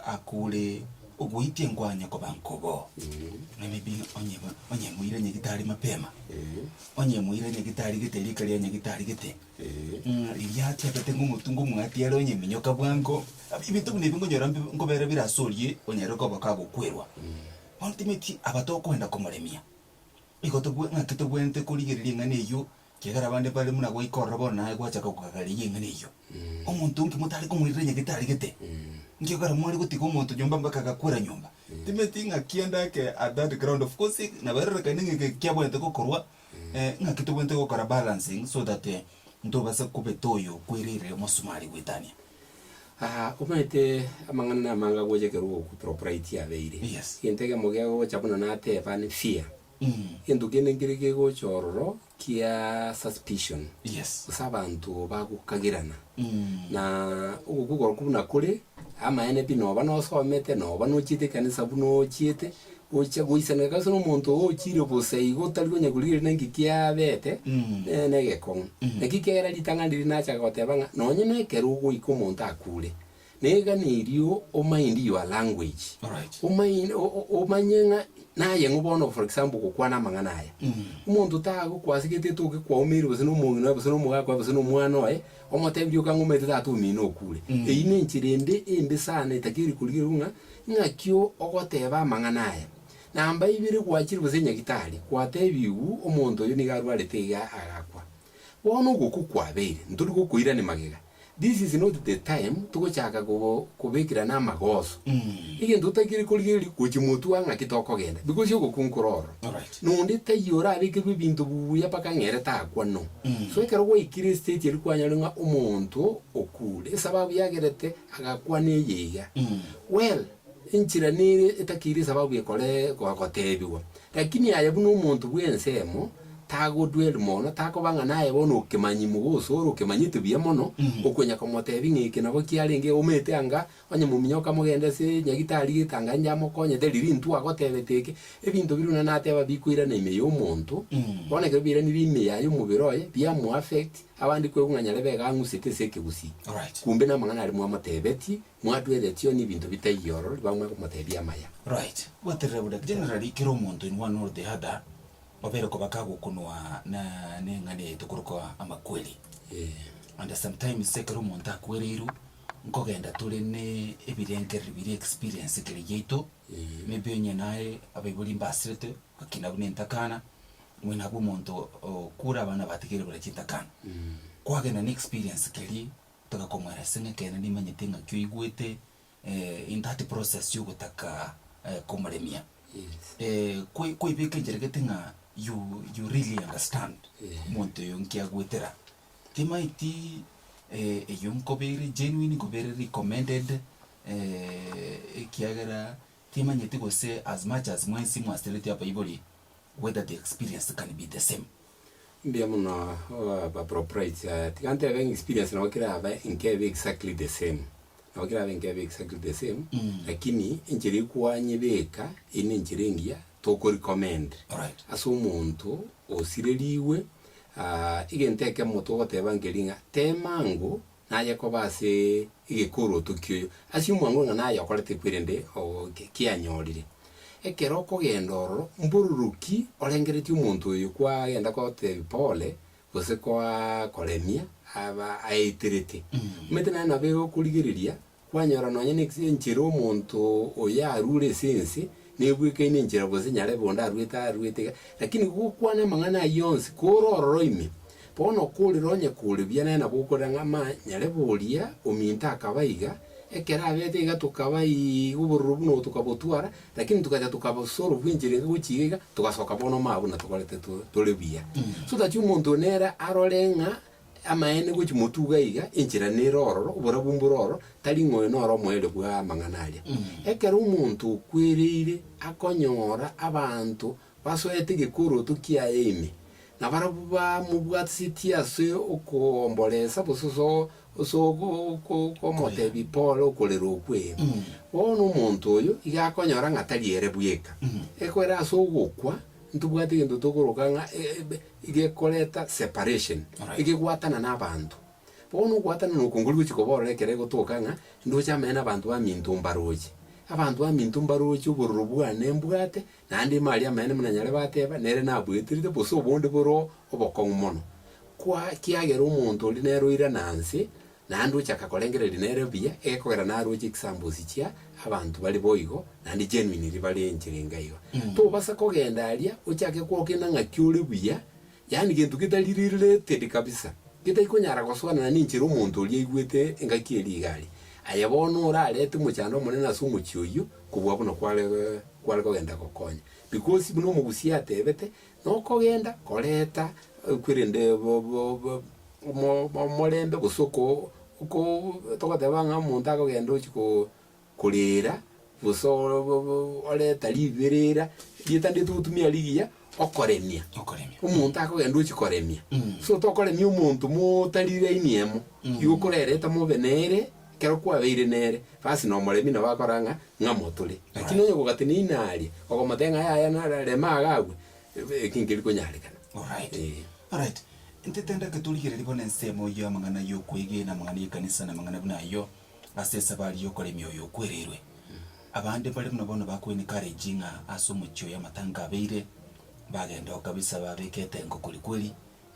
Akure ogoitia enkwanya koba nkobo. Maybe onye onye moira nyagitari mapema. Onye moira nyagitari gete rika ria nyagitari gete. Ng'a riria atebete ng'o omotu ng'o omwati are onye minyoka bwango. Ebinto buna ebi nkonyora mbe nkobera bire ase orie onyare koba kagokwerwa. Ultimately aba tokoenda komoremia. Igo tobwe ng'aki tobwenerete korigereria eng'ana eyio. Kiagera abande bare buna goika ororo bono naye gwachaka kogagareria eng'ana eyio. Omonto onke motare komoirera onye getaregete, nkiagera mware gotiga omonto nyomba mpaka agakwera nyomba. Timanyeti ng'a kianda ake at that ground of course nabairarekane ng'a eke kiabwenerete gokorwa, eh, ng'aki tobwenerete gokora balancing so that ntobase kobeta oyo okwereire omosumari goetania. Aa omanyete amang'ana namange agocha ekero ogokupropraitia abeire. Yes. Egento ekemo gegocha buna nateba ni fear. Gento kende nkere kegocha ororo kia suspicion gose abanto bagokagerana. Na ogokwa okorokwo buna kore, amaene pi noba nosomete, noba nochiete ekanisa buna ochiete, gocha goisaneka kabisa na omonto oo ochire bosa igo otari konya korigererigera nki kiabete, nere na egekong'u. Naki ekiagera ritang'ani riria nachaka goteba ng'a nonye na ekero ogoika omonto akure, Neganeirio o mind your language. Alright. O mind, o- o- omanye ng'a naye ng'o bono for example gokwana amang'ana aya. Omonto tagokwasi gete etoke kwaumeire gose nomong'ina oye gose nomogaka oye gose nomwana oye, omotebirie okang'umete tata omino okure. Eyio nenchera ende embe sana etakeri korigerwa ng'a ng'aki o- ogoteba amang'ana aya. Namba ibere gwachire gose nyagitari, gwatebiwu omonto oyo niga arwarete iga agakwa. Bono ogokwa kwabeire, ntori gokoirani magega. This is not the time togochaka kobekirana amagoso. Egento totakeire korigereria gochimotua ng'aki tokogenda because ogokunkora oro nonde taiyo orabekerwe ebinto buya mpaka ng'a ere takwanwa. So ekero gwaikire estage eria kwanyore ng'a omonto okure esababu yagerete agakwana eye iga, well, Enchera nere etakeire esababu ekore goteebigwa, lakini aye buna omonto bw'ensemo tagodwell mono, takoba ng'a naye bono okemanyi mogoso ore okemanyete buya mono, okonya komoteebia ng'a eke nabo kiarenge, omete anga onye mominyo okamogenda ase nyagitari getanga inche amokonye, teri rintwe agotebete eke. Ebinto biria buna nateba bikoirana ime y'omonto, bono ekero biairanire ime yaye omobere oye, biamoaffect, abande koigwa ng'a nyarebe iga ang'usete ase ekegusii, kumbe namang'ana aria mwamotebetie. Mwatweretio nebinto bitaiyo ororo bamwe komotebia amaya. Right. Gwaterera bo daktari. Generally kera omonto in one or the other obere koba kagokunwa na neng'ana yaito korokwa amakweri. Eeh. And sometimes ekero omonto akwereirwe nkogenda tore ne ebirengereri biria experience kere yaito Eeh. Maybe onye naye abaibori mbasirete gakina buna entakana omwene abwo omonto okure abana batigerire buna chintakana. Kwagenda ne experience keria Tobe komwera ase ng'a ekeene nimanyete ng'aki oigwete in that process y'ogotaka komoremia. Ko koibeka enchera gete ng'a you you really understand omonto oyo nki agwetera. Timaeti eyio nkobeire genuine nkobeire recommended ekiagera timanyeti gose as much as mwensi mwasereti abaibori whether the experience can be the same. Mbuya muno abaproprites aya. Tiga ntebe ng'a experience nabo kera abe nkebe exactly the same. Nabo kera abe nkebe exactly the same, lakini enchera ekwanyebeka eyio nenchera engiya toko recommend Alright. ase omonto osirerigwe egento ekemo togoteba nkeri ng'a tema ango naye koba ase egekorooto kioyo, ase omwango ng'a naye okorete kwe rende oo ki- kianyorire. Ekero okogenda ororo, mbororoki orengeretie omonto oyo kwagenda kotebia pole, gose koa koremia aba aeterete. Omanyete naende nabo egokorigereria. Kwanyora nonya nekisu enchera omonto oyo arure ase ense, nebwekaine enchera gose nyarebe onde aruete aruete iga, lakini gokwana amang'ana ayio onsi kore ororo ime, bono okorera onye kore buya naye nabo okorera ng'a ma nyarebe oria ominto akaba iga, ekero abete iga tokaba iiga obororo buna obo tokabotwara, lakini togacha tokabosoro bwe enchera enke gochia iga iga, togasoka bono ma buna tokorete to tore buya. So that omonto nere arore ng'a. Amaene gochi motuga iga, enchera nere ororo, oborabu mbore ororo, tari ng'a oyo noro omoerio bwa amang'ana aria. Ekero omonto okwereire akonyora abanto basoete egekoroto kiaye ime, na barabwo bamobwatisetie ase okoomboresa gose ase o- ase ogo- oko- oko- omotebia pole okorera okwe, bono omonto oyo iga akonyora ng'a tari ere bweka. Ekwera ase ogokwa, ntobwati egento tokoroka ng'a e- e- be- Egekoreta separation, egegwatana na abanto. Bono ogwatana na okongori gochia koborora ekero egotoka ng'a ndoche amanye na abanto baminto mbaroche. Abanto baminto mbaroche obororo bwane mbwate, naende ime aria amanye buna nyare bateba nere nabueterete gose obonde bore obokong'u mono. Kwa kiagera omonto oria nere oirana nse. Naende ochaka korengereria nere buya egekogera naroche ekisambosi chia abanto bare boigo, naende genuine riba ri'enchera enga iga. Tobasa kogenda aria ochake gokina ng'aki ore buya, yaani gento getari related kabisa, getari konyara gosoanana nenchera omonto oria aigwete engaki eria iga aria. Aye bono orarete mochando omonene ase omochie oyio kobua buna kware kware kogenda gokonya. Because buna omogusia atebete, Nokogenda koreta kwerende omorembe gose oko oko togoteba ng'a omonto akogenda ochi ko korera gose oreta riberera rieta ndiri togotumia rigiya okoremia. Okoremia. Omonto akogenda ochi koremia. So tokoremia omonto motari laini emo. Igo okorerete mobe nere ekero kwabeire nere basi nomoremi nabo akora ng'a ng'a motore, lakini onye ogogata na ina aria, okomotebia ng'a yaya nara rema iga agwe, ebe eki nkeri konyarekana. Alright, Eeh. alright. Ntetendeke torigererie bono ensemo eyio y'amang'ana ay'okwegena, amang'ana y'ekanisa na amang'ana buna ayio ase esabari y'okoremia oyo okwereirwe. Abande mbare buna bono bakoencourage ng'a ase omochie oyo amatanga abeire, bagenda oo kabisa babeka etengo kweri kweri,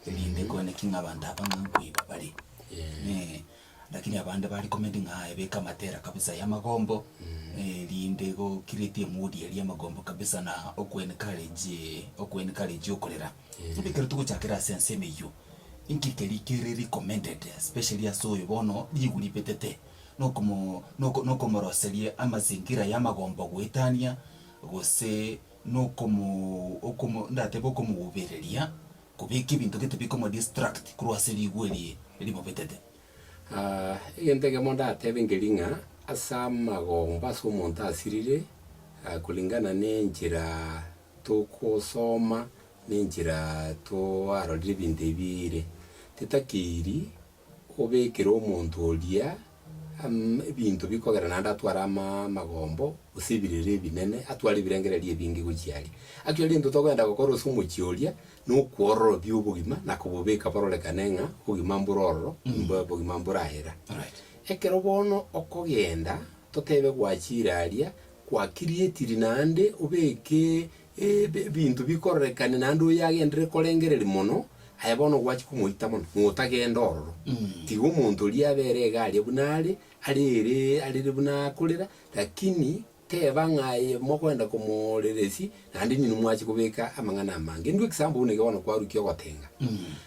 erinde kone ki ng'a abanto aba ng'a nkoiba bare. Eeh. Lakini abande ba recommend ng'a aye beka amatera kabisa ya magombo erinde go create a mood eria yamagombo kabisa na oku encourage oku encourage okorera. Bono ekero togochakera ase ensemo eyio, inki keria kere recommended especially ase oyo bono ribu ribetete na okomo na oko na okomoroseria amazingira ya amagombo goetania gose na okomo okomo ndatebe okomobereria. Kobeka ebinto gete bikoma distract korwa ase rigwa eri rimobetete. Egento ekemo ndatebe nkeri ng'a ase amagomba ase omonto asirire koringana nenchera togosoma nenchera twarorire ebinto ebi ere, titakeiri Obekere omonto oria ebinto bikogera naende atware amagombo, gose ebirere ebinene, atware ebirengererio ebinge gochia aria. Ake aria intwe togoenda gokora ase omochie oria, nokwororobia obogima na kobobeka bororekane ng'a obogima mbore ororo, nimbwa obogima mborahera. Alright. Ekero bono okogenda, totebe gwachire aria, gwa create naende obeke ebinto bikororekane naende oyoagenderere korengereria mono, aye bono ogwachia komoita mono, ng'a otagenda ororo. Tiga omonto oria abe ere iga aria buna are, arere arere buna akorera, lakini teba ng'a aye mogoenda komooreresia, naende inwe nimwachia kobeka amang'ana amange. Indwe ekisaambo buna eke bono kwarukia ogotenga,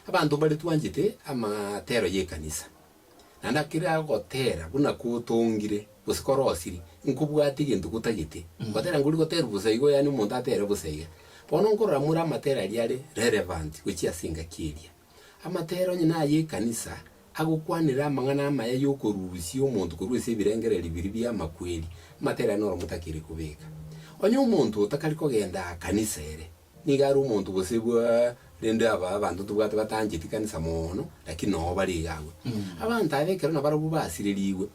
abanto mbare twanchete amatero y'ekanisa. Na ndakire agotera buna kotongire, gose korosiri, nkobwate egento gotagete, gotera nkori goterwa bosa igo, yaani omonto atere bosa iga. Bono nkorora more amatera aria are relevant gochia ase engaki eria. Amatera onye naye ekanisa, agokwanera amang'ana amaya y'okorusia omonto korwa ase ebirengererio biria bi'amakweri, amatera aria noromo takiri kobeka. Onye omonto otakari kogenda kanisa ere, Nigo are omonto gose bwa, rende aba abanto ntobwate batancheti kanisa moono, lakini noo bare iga agwo. Abanto aba ekero nabarabwo basirerigwe,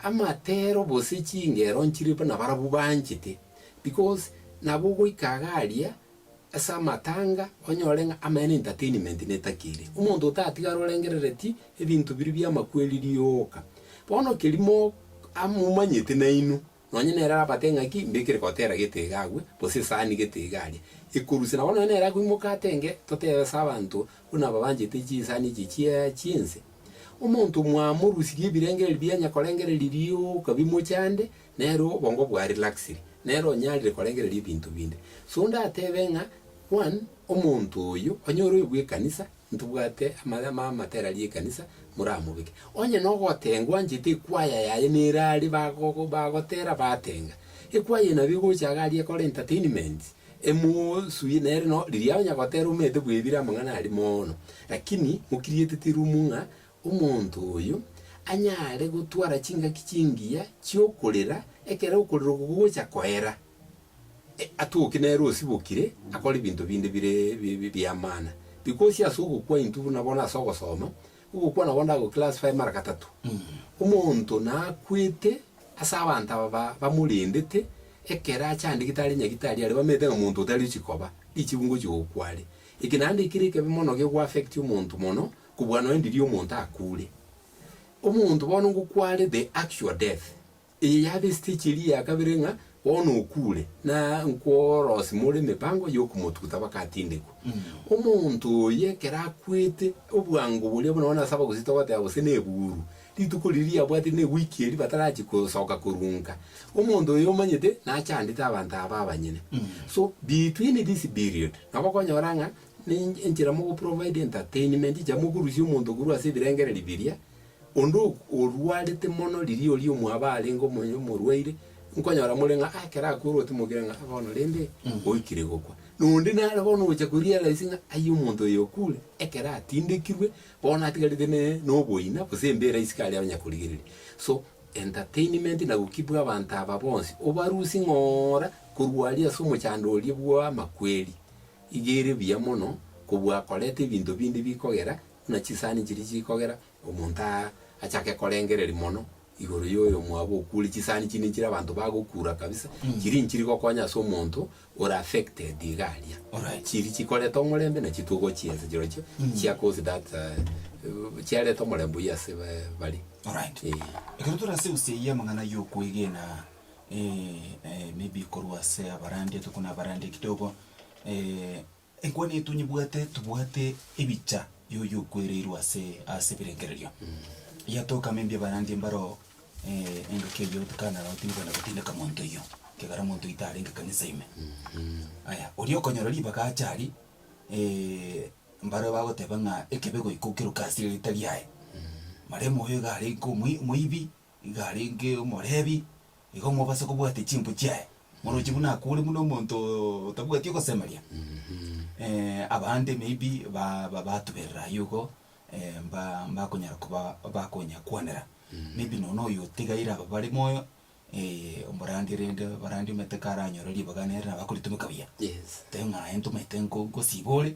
amatero gose chingero nchire buna barabwo banchete, because nabo ogoika iga aria ase amatanga onyore ng'a amena entertainment netaki ere. Omonto otatigare orengerereti ebinto biria bi'amakweri rioka. Bono kerimo amomanyete nainwe, Nonya nere arabate eng'aki, mbekere gotera gete iga agwe, gose esaani gete iga aria, ekorusia. Nabo nonya nere akoimoka ate ng'e, Totebe ase abanto, buna aba banchete chinsani echi chia chi'ense, Omonto mwamorusirie ebirengererio bia onye korengereria rioka bimoche ande, nere obongo bwa relaxire, nere onyarire korengereria ebinto binde. So ndatebe ng'a, one, omonto oyo, onye ore oyo bw'ekanisa, Ntobwate amarama amatera ri'ekanisa moramobeke. Onye nogotengwa anchete ekwaya yaye nere aria bagogo bagotera batenga. Ekwaya eye nabo egocha iga aria ekore entertainment emosuye nere no riria onye agotera omete bwebire amang'ana aria moono. Lakini mokirietete room ng'a omonto oyo anyare gotwara chingaki chingiya chiokorera ekero okorera oko gogocha koera. Atwoki nere osibokire, akore ebinto binde bire biamana. Bikosia ase ogokwa intwe buna bono ase ogosoma, ogokwa nabo ndagoclassify mara gatato. Omonto nakwete ase abanto aba bamorendete, ekero achandegete are nyagitari aria bamenyete ng'a monto otari ochia koba, richibu ngochia gokwa are. Eke naende ekere ekebe mono gegoaffect omonto mono, kobua nonya ndiri omonto akure. Omonto bono ngokwa are the actual death. Eye yaaba esitechi eria ya kabere ng'a bono okuure, na nkworosi more emepango y'okomotuguta bakatindekwa. Omonto oyo ekero akwete, obwango boria buna bono ase abagusii togoteba gose neburu, rituko riria riabwatire newiki eria batarachie kosoka korunka. Omonto oyo omanyete nachandete abanto aba abanyene. So between this period, nabo okonyora ng'a ne enchera mogoprovider entertainment echa mokorusia omonto korwa ase ebirengererio biria Onde orwarete mono riria oria omwabo arenge omoyo omorwaire, nkonyora more ng'a ekero akworowa timokire ng'a bono rende oikire gokwa. Na onde nare bono ogocha korealize ng'a aye omonto oyo okure, ekero atindekirwe, bono atigarete ne noboina gose embera isiko aria abanya korigereria. So, entertainment na gokibwa abanto aba bonsi, obarusie ng'oora korwa aria ase omochando oria bw'amakweri, iga ere buya mono, kobua akoreta ebinto binde bikogera. Buna chisani chiria chikogera, omonto aa achake korengereria mono igoro y'oyomwabo okure chisani chiria nechire abanto bagokura kabisa, chiria nchiri gokonya ase omonto ore affected iga aria. Chiria chikoreta omorembe nachio togoa chiense chirochio chia cause that chiareta omorembe oyio ase bare. Alright. Eeh. Ekero tore ase ense eye y'amang'ana y'okwegena maybe korwa ase abarandia tokona abarandia kidogo Enkwana yaito nyibwate tobwate ebicha yoyo okwereirwe ase ase ebirengererio. Yatoka ime mbia barandia mbaro eh, engaki eyio otekana nao tindi kwenda gotindeka monto oyio kegera monto oyio tarenge kanisa ime. Aya oria okonyora ribaga ache aria eh, mbaro bagoteba ng'a ekebe goika okeroke ase eritari aye. Maremo oyo iga are nko moi- moibi. Iga arenge Omolevi, igo mobase kobwate chimbu chiaye. Morochi buna akure buna omonto otabwati ogosemeria, abande maybe ba batuberera ayio igo mba mbakonyara koba bakonya kwanera. Maybe nonya oyo otigaire aba bare moyo omorange rende barande omanyete karanyore ribaga nere nabo akoritomeka buya. Yes. Teng'aye ntomanyete nko nkosiba ore.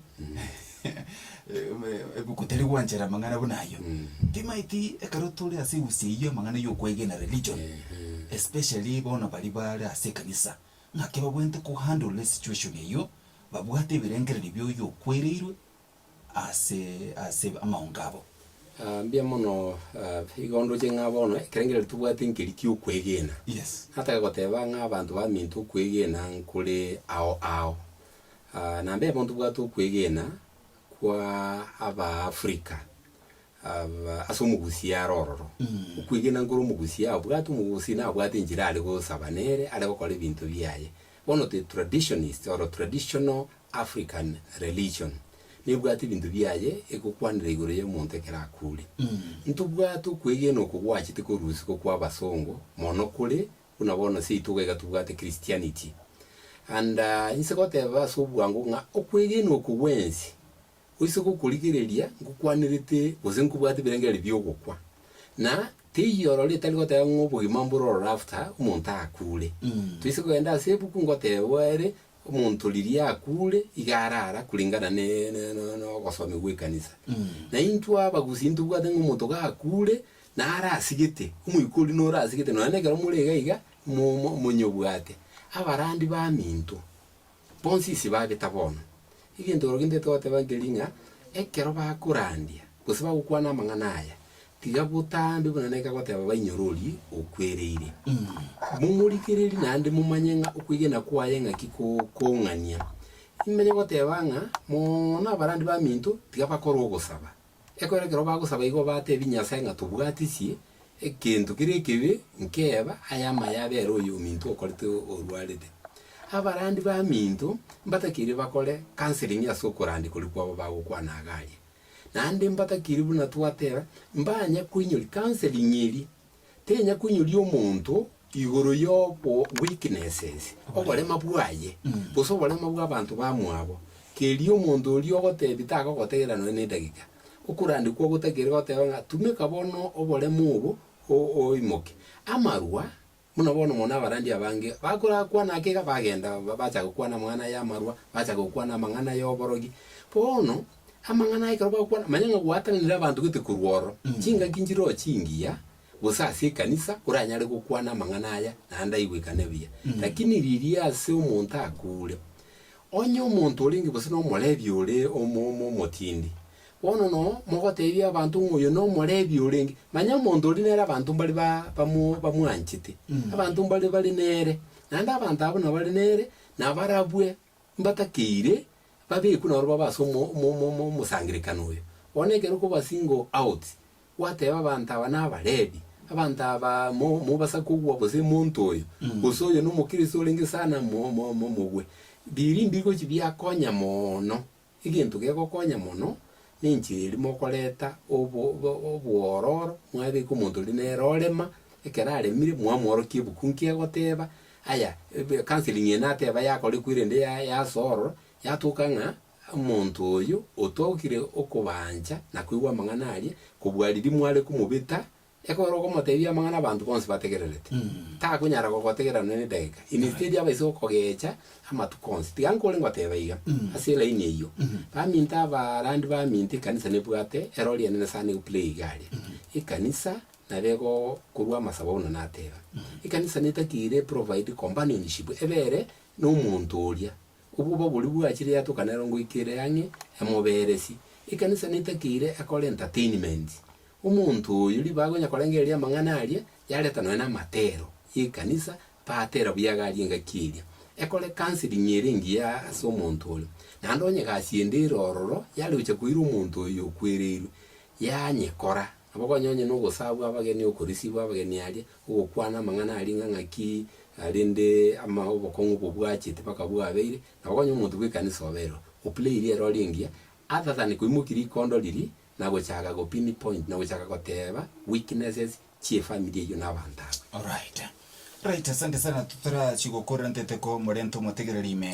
Ebuku tari gwanchera amang'ana buna ayio. Timaeti ekero tore ase egusia eyio amang'ana y'okwegena religion, especially bono baria bare ase ekanisa, ng'aki babwenerete ko handle esituation eyio, babwate ebirengererio bia oyio okwereirwe ase ase amaongo abo. Aa mbia mono igo ndoche ng'a bono ekerengererio tobwate nkeri ki'okwegena. Yes. Nataka goteba ng'a abanto baminto okwegena nkore ao ao. Na mbeyo bono tobwate okwegena kwa Abaafrika ase omogusia are ororo. Okwegena nkore omogusia abwate omogusi na abwate enchera are gosaba nere are gokora ebinto biaye. Bono the traditionist or traditional African religion nebwate ebinto biaye egokwanera igoro ya omonto ekero akure. Ntobwate okwegena oko gwachete korusia ko kwa abasongo mono kore Buna bono seitugo iga tobwate Christianity. And inse goteba ase obwango ng'a okwegena okwo bwensi oise gokorigereria nkokwanerete gose nkobwate ebirengererio bi'ogokwa. Na teiyo ororo ritari goteba ng'a obogima mbore ororo after omonto akure. Toise kogenda ase ebuku ngotebwa ere omonto riria akure iga arara kuringana ne ne ne ne ogosomigwa gw'ekanisa. Na intwe abagusi ntobwate ng'a omonto gakure Narasigete, omoika oria norasigete, nonya nekero more iga iga, mo- mo- monyobwate. Abarandi baminto, bonsi isi bageta bono. Egento oro gintete goteba nkeri ng'a, ekero bakorandia, gose bagokwana amang'ana aya, tiga botambe buna naika goteba bainyorori okwereire. Momorigererie naende momanye ng'a okwegena kwaye ng'aki ko- kong'ania. Nimanye goteba ng'a, mono abarandi baminto, tiga bakore ogosaba. Ekero ekero bagosaba igo batebi Nyasae ng'a tobwatisie egento keria ekebe nkeba aye amaye abere oyo ominto okorete orwarete. Abarandi baminto mbatakeire bakore counseling ase okorandia koria kwabo bagokwana iga aria. Naende mbatakeire buna twateba mbanye koinyori counseling eria tenya koinyoria omonto igoro y'obo weakness ense, oborema bwaye, gose oborema bw'abanto bamwabo. Keria omonto oria ogotebi tagogotegera nonya nedagika. Okorande kwa gotagere goteba ng'a tumeka bono oborema obo o, oimoke. Amarwa, buna bono mono abarandi abange bakora kwana ake iga bagenda ba, bacha gokwana amang'ana y'amarwa, bacha gokwana amang'ana y'oborogi. Bono. Amang'ana aya ekero bagokwana, manya ng'a gwatananire abanto gete korwa ororo, chingaki nchiroche chingiya, gose ase ekanisa, oranyare gokwana amang'ana aya, naende aigwekane buya. Lakini riria ase omonto akuure, onye omonto orenge gose nomorebi ore omo- omo- omotindi, bono noo mogoteebia abanto ng'a oyo nomorebi orenge, manya omonto oria nere abanto mbare ba- bamo- bamwanchete, abanto mbare bare nere, naende abanto abwo nabare nere, nabarabwe. Mbatakeire babekwe naro babe ase omosangererekano oyo. Bono ekero okoba single out, gwateba abanto aba naba Levi, abanto aba mobasa kogwa gose monto oyo, gose oyo nomokristo orenge sana mogwe, biri mbigochi biakonya mono Egento gegokonya mono nenchera eria mokoreta obo obo obwororo mwabeka omonto oria nere orema, ekero aremire mwamworokia ebuku nki egoteba, aya ebe counselling eye nateba yakorekwa erende ya yasorora, yatoka ng'a omonto oyo otogire okobaancha na koigwa amang'ana aria, kobua riria mware komobeta Ekero okomoteebia amang'ana abanto bonsi bategererete, takonyara gogotegerera nonya nedageka. Instead aba ase okogecha amatuko onsi. Tiga nkore ngoteeba iga, ase elaini eyio, baminto abaarandi baminto ekanisa nebwate ero rianene sana egoplay iga aria. Ekanisa nabo egokorwa amasabo buna nateeba. Ekanisa netakeire eprovide companionship ebe ere nomonto oria. Obwoba boria bwachire yatukanera ngoikera ang'e emoberesie. Ekanisa netakeire akore entertainment. Omonto oyo riba agonya korengereria amang'ana aria yareta nonya namatero y'ekanisa batera buya iga aria engaki eria. Ekore counseling ere engiya ase omonto oria. Naende onye egasi ende ere ororo yare gocha koira omonto oyio okwereirwe, yanyekora. Nabo konya onye nogosabwa abageni, okorisibwa abageni aria, ogokwana amang'ana aria ng'a ng'aki arende ama obokong'u bobwachete mpaka bwabeire, nabo konya omonto bw'ekanisa oberwa oplairie ere ore engiya, other than koimokia rikondo riria na gochaka go pin point na gochaka goteba weaknesses chi'efamiri eyio na abanto aba. Alright. Alright, asante sana, totarachie gokorera nteteko morente omotegereri ime.